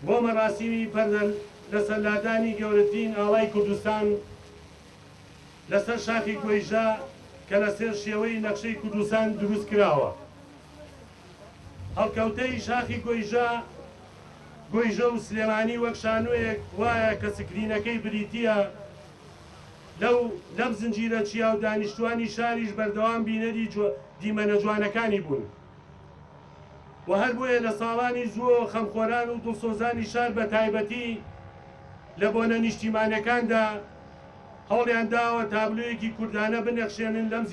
بۆ مەراسیمی پەردەن لەسەر لادانی گەورەترین ئاڵای کوردستان لەسەر شاخی گۆیژە کە لەسەر شێوەی نەخشەی کوردستان دروست کراوە. هەڵکەوتەی شاخی گۆیژە گۆیژە و سلێمانی وەک شانۆیەک وایە کە سکرینەکەی بریتییە لەو لەم زنجیرە چیا و دانیشتووانی شاریش بەردەوام بینەری دیمەنە جوانەکانی بوون. و هەر بۆیە لە ساڵانی زووەوە خەمخۆران و دڵسۆزانی شار بە تایبەتی لە بۆنە نیشتیمانیەکاندا هەوڵیان داوە تابلۆیەکی کوردانە بنەخشێنن لەم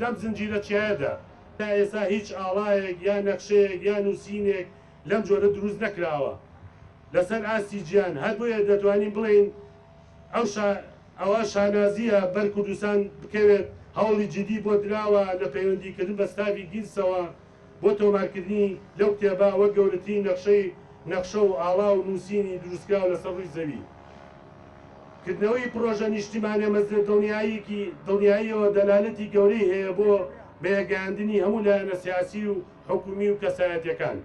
لەم زنجیرە چیایەدا. تا ئێستا هیچ ئاڵایەک یا نەخشەیەک یا نووسینێک لەم جۆرە دروست نەکراوە لەسەر ئاستی جیهان، هەر بۆیە دەتوانین بڵێین، ئەو شا ئەوە شانازییە بەر کوردستان بکەوێت، هەوڵی جیدی بۆ دراوە لە پەیوەندیکردن بە ستافی گیلسەوە بۆ تۆمارکردنی لەو کتێبە وەک گەورەترین نەخشەی نەخشە و ئاڵا و نووسینی دروستکراو لەسەر ڕووی زەوی. کردنەوەی پڕۆژە نیشتیمانە مەزنە دڵنیاییەکی دڵنیاییەوە دەلالەتی گەورەی هەیە بۆ بەیەکگەیاندنی هەموو لایەنە سیاسی و حکوومی و کەسایەتییەکان.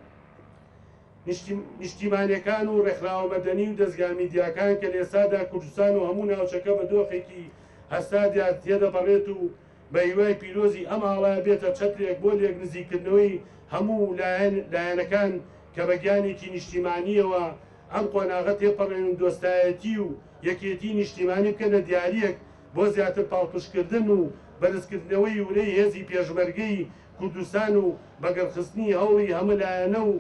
نیشتیمانیەکان و ڕێکخراوە مەدەنی و دەزگا میدیاکان کە لێسادا کوردستان و هەموو ناوچەکە بە دۆخێکی هەستا دیار تێدەپەڕێت و بە هیوای پیرۆزی ئەم ئاڵایە بێتە چەترێک بۆ لێک نزیککردنەوەی هەموو لایەنەکان کە بە گیانێکی نیشتیمانیەوە ئەم قۆناغە تێپەڕێن و دۆستایەتی و یەکێتی نیشتیمانی بکەنە دیاریەک بۆ زیاتر پاڵپشتکردن و بەرزکردنەوەی ورەی هێزی پێشمەرگەی کوردستان و بەگەڕخستنی هەوڵی هەمە لایەنە و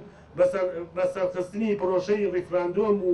بە سەرخستنی پرۆشەی ڕیفراندۆم و